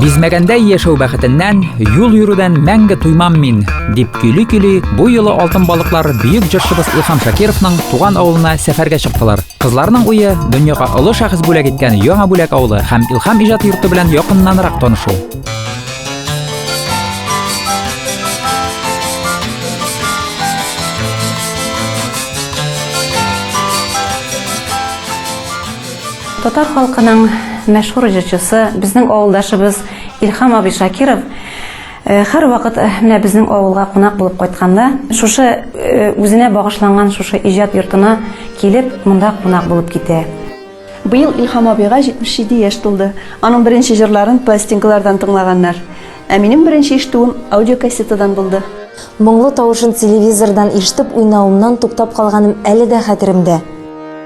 Бизмәгәндә яшәү бәхетеннән, юл йөрүдән мәңге туймам мин, дип көйли-көйли, бу юлы алтын балыклар бөек җырчыбыз Илһам Шакировның туган авылына сәфәргә чыктылар. Кызларның уе дөньяга олы шәхес бүләк иткән Яңа бүләк авылы һәм Илһам иҗат йорты белән якыннанрак танышу. Татар халкының мәшһүр җырчысы, безнең авылдашыбыз Илхам абый Шакиров э, һәрвакыт э, менә безнең авылга кунак булып кайтканда, шушы э, үзенә багышланган шушы иҗат йортына килеп, монда кунак булып китә. Быел Илхам абыйга 77 яшь тулды. Аның беренче җырларын пластинкалардан тыңлаганнар. Ә минем беренче ишетүем аудиокассетадан булды. Моңлы тавышын телевизордан ишетеп уйнавымнан туктап калганым әле дә хәтеремдә.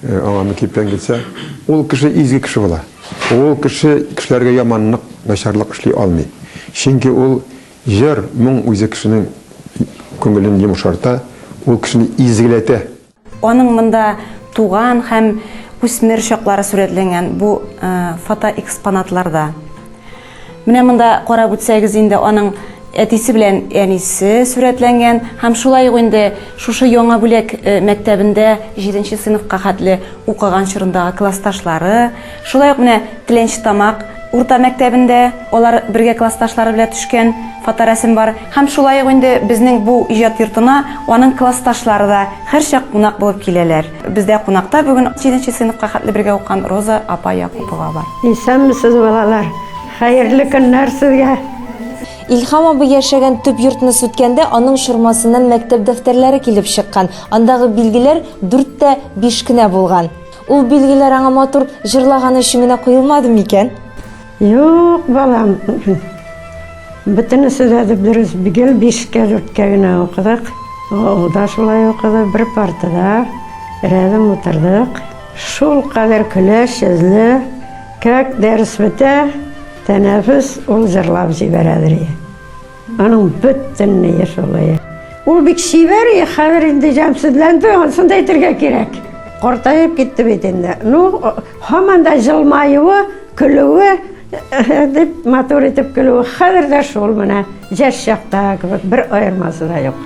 Аңа мин киптән китсә, ул кеше изге кеше була. Ул кеше кешеләргә яманлык, начарлык эшли алмый. Чөнки ул җыр, моң үзе кешенең күңелен йомшарта, ул кешене изгеләтә. Аның монда туган һәм үсмер чаклары сурәтләнгән бу фотоэкспонатларда. Менә монда карап үтсәгез инде аның әтисе белән әнисе сурәтләнгән һәм шулай ук инде шушы яңа бүләк э, мәктәбендә 7 нче сыйныфка хәтле укыган чорындагы классташлары, шулай ук менә Тленч Тамак урта мәктәбендә алар бергә классташлары белән төшкән фоторәсем бар. Һәм шулай ук инде безнең бу иҗат йортына аның классташлары да һәрчак кунак булып киләләр. Бездә кунакта бүген җиденче сыйныфка хәтле бергә укыган Роза апа Якупова бар. Исәнмесез, балалар! Хәерле көннәр сезгә! Илһам абый яшәгән төп йортны сүткәндә, аның чормасыннан мәктәп дәфтәрләре килеп чыккан. Андагы билгеләр дүрт тә биш кенә булган. Ул билгеләр аңа матур җырлаганы өчен генә куелмады микән? Юк, балам. Бөтенесе дә дөрес. Гел бишкә, дүрткә генә укыдык. Ул да шулай укыды. Бер партада рядом утырдык. Шулкадәр көләч өзле. Как дәрес бетә, тәнәфес, ул җырлап җибәрә, ди. Аның бөтенләй шулай. Ул бик чибәр, хәзер инде җәмсезләнде, ансын да әйтергә кирәк. Картаеп китте бит инде. Ну, һаман да җылмаюы, көлүе, дип матур итеп көлүе, хәзер дә шул менә, җәш чакта кебек, бер аермасы да юк.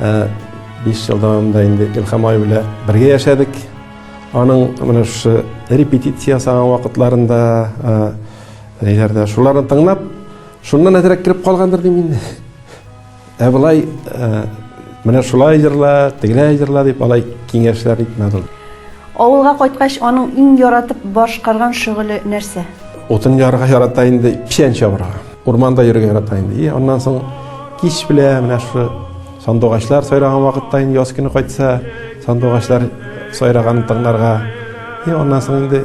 Ә биш ел дәвамында инде Илхам абый белән бергә яшәдек. Аның менә шушы репетиция ясаган вакытларында, ниләрдә, шуларны тыңлап, шуннан әзрәк кереп калгандыр дим инде. Ә болай менә шулай җырла, тегеләй җырла дип алай киңәшләр итмәде ул. Авылга кайткач, аның иң яратып башкарган шөгыле нәрсә? Утын ярга ярата инде, печән чабырга. Урманда йөрергә ярата инде. И аннан соң кич белә менә шушы сандугачлар сайраган вакытта инде яз көне кайтса, сандугачлар сайраганын тыңларга. И аннан соң инде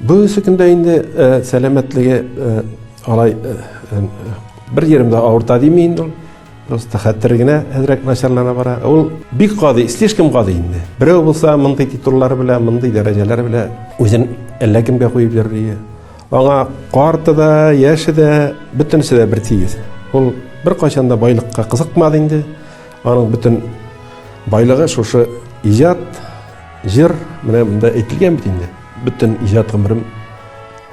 Бүгенге көндә инде сәламәтлеге алай бер җиремдә авырта дими инде ул. Просто хәтер генә әзрәк начарлана бара. Ул бик гади, слишком гади инде. Берәү булса мондый титуллар белән, мондый дәрәҗәләр белән үзен әллә кемгә куеп йөрли. Аңа карты да, яше дә, бөтенесе дә бер тигез. Ул бер кайчан да байлыкка кызыкмады инде. Аның бөтен байлыгы шушы иҗат, җыр, менә монда әйтелгән бит инде. Бөтен иҗат гомерем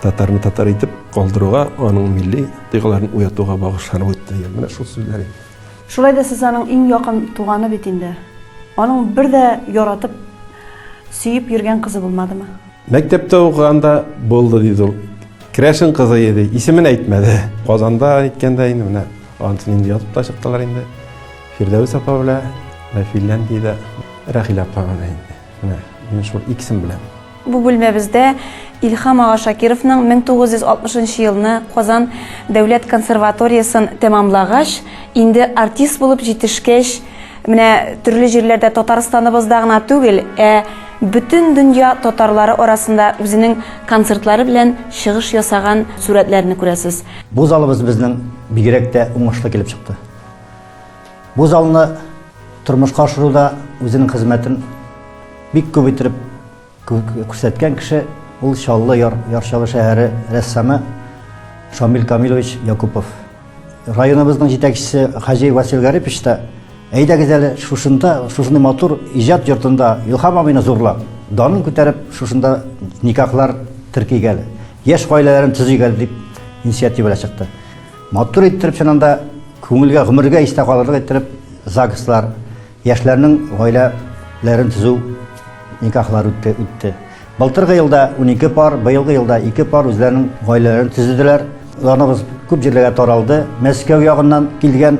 татарны татар итеп калдыруга, аның милли тойгыларын уятуга багышланып үтте, дигән менә шул сүзләр инде. Шулай да сез аның иң якын туганы бит инде. Аның бер дә яратып, сөеп йөргән кызы булмадымы? Мәктәптә укыганда булды, диде ул. Керәшен кызы иде, исемен әйтмәде. Казанда әйткәндә инде менә антын инде язып та чыктылар инде. Фирдәвес апа белән Финляндиядә Рәхилә апа белән инде. Менә, мин шул икесен беләм. Бу бүлмәбездә Илһам ага Шакировның 1960 елны Казан дәүләт консерваториясен тәмамлагач, инде артист булып җитешкәч, менә төрле җирләрдә Татарстаныбызда гына түгел, ә бөтен дөнья татарлары арасында үзенең концертлары белән чыгыш ясаган сурәтләрне күрәсез. Бу залыбыз безнең бигрәк тә уңышлы килеп чыкты. Бу залны тормышка ашыруда үзенең хезмәтен бик күп иттереп күрсәткән кеше ул Чаллы яр, Ярчалы шәһәре рәссамы Шамил Камилович Якупов. Районыбызның җитәкчесе Хаҗи Васил Гарипович та әйдәгез әле шушында, шушындый матур иҗат йортында Илһам абыйны зурлап, данын күтәреп, шушында никахлар теркигәле, яшь гаиләләрен төзигәле дип инициативага чыкты. Матур иттереп сен анда күңелгә, гомергә истә калырлык иттереп ЗАГСлар, яшьләрнең гаиләләрен төзү никахлар үтте. үтте. Былтыргы елда 12 пар, быелгы елда 2 пар үзләренең гаиләләрен төзеделәр. Уларыбыз күп җирләргә таралды. Мәскәү ягыннан килгән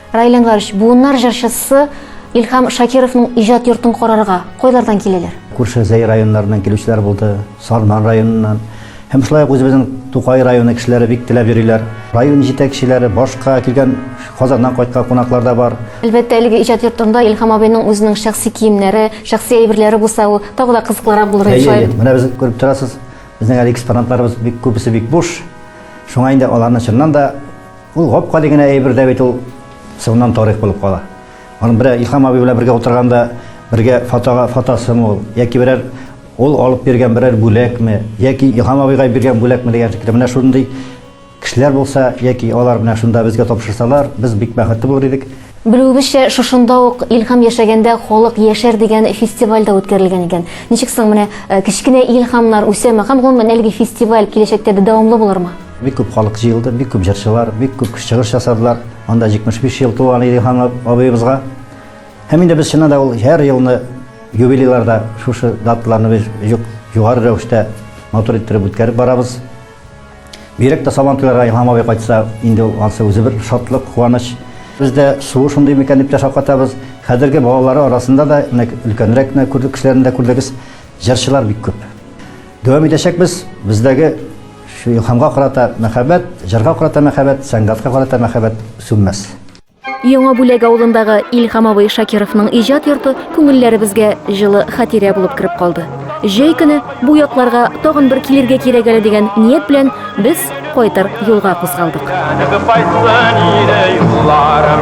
Раил Әнвәрович, буыннар җырчысы Илһам Шакировның иҗат йортын карарга кайлардан киләләр? Күрше Зәй районнарыннан килүчеләр булды, Сарман районыннан. Һәм шулай ук үзебезнең Тукай районы кешеләре бик теләп йөриләр. Район җитәкчеләре, башка килгән Казаннан кайткан кунаклар да бар. Әлбәттә, әлеге иҗат йортында Илһам абыйның үзенең шәхси киемнәре, шәхси әйберләре булса, ул тагы да кызыклырак булыр иде, шулай бит? Менә без күреп торасыз, безнең әле экспонатларыбыз бик күбесе бик буш. Шуңа инде аларны чыннан да Ул гап-гади генә әйбер дә бит ул, соңыннан тарих булып кала. Аны берәр Илһам абый белән бергә утырганда, бергә фотога фотосымы ул, яки берәр ул алып биргән берәр бүләкме, яки Илһам абыйга биргән бүләкме дигән шикелле. Менә шундый кешеләр булса, яки алар менә шунда безгә тапшырсалар, без бик бәхетле булыр идек. Белүебезчә, шушында ук Илһам яшәгәндә Халык яшәр дигән фестиваль дә үткәрелгән икән. Ничек соң, менә кечкенә Илһамнар үсәме һәм, гомумән, әлеге фестиваль киләчәктә дә дәвамлы булырмы? Бик күп халык җыелды, бик күп җырчылар, бик күп чыгыш ясадылар. Анда 75 ел тулган иде Илһам абыебызга. Һәм инде без чыннан да ул һәр елны юбилейларда шушы даталарны без югары рәвештә матур иттереп үткәреп барабыз. Бигрәк тә Сабан туйларга Илһам абый кайтса, инде ул ансы үзе бер шатлык, куаныч. Без дә суы шундый микән дип тә шаккатабыз. Хәзерге балалары арасында да, менә өлкәнрәк кенә күрдек кешеләрне дә күрдегез, җырчылар бик күп. Дәвам итәчәкбез. Бездәге шу Илһамга карата мәхәббәт, җырга карата мәхәббәт, сәнгатькә карата мәхәббәт сүнмәс. Яңа Бүләк авылындагы Илһам абый Шакировның иҗат йорты күңелләребезгә җылы хатирә булып кереп калды. Җәй көне бу якларга тагын бер килергә кирәк әле дигән ният белән без кайтыр юлга кузгалдык. Кайтсын иде юлларым.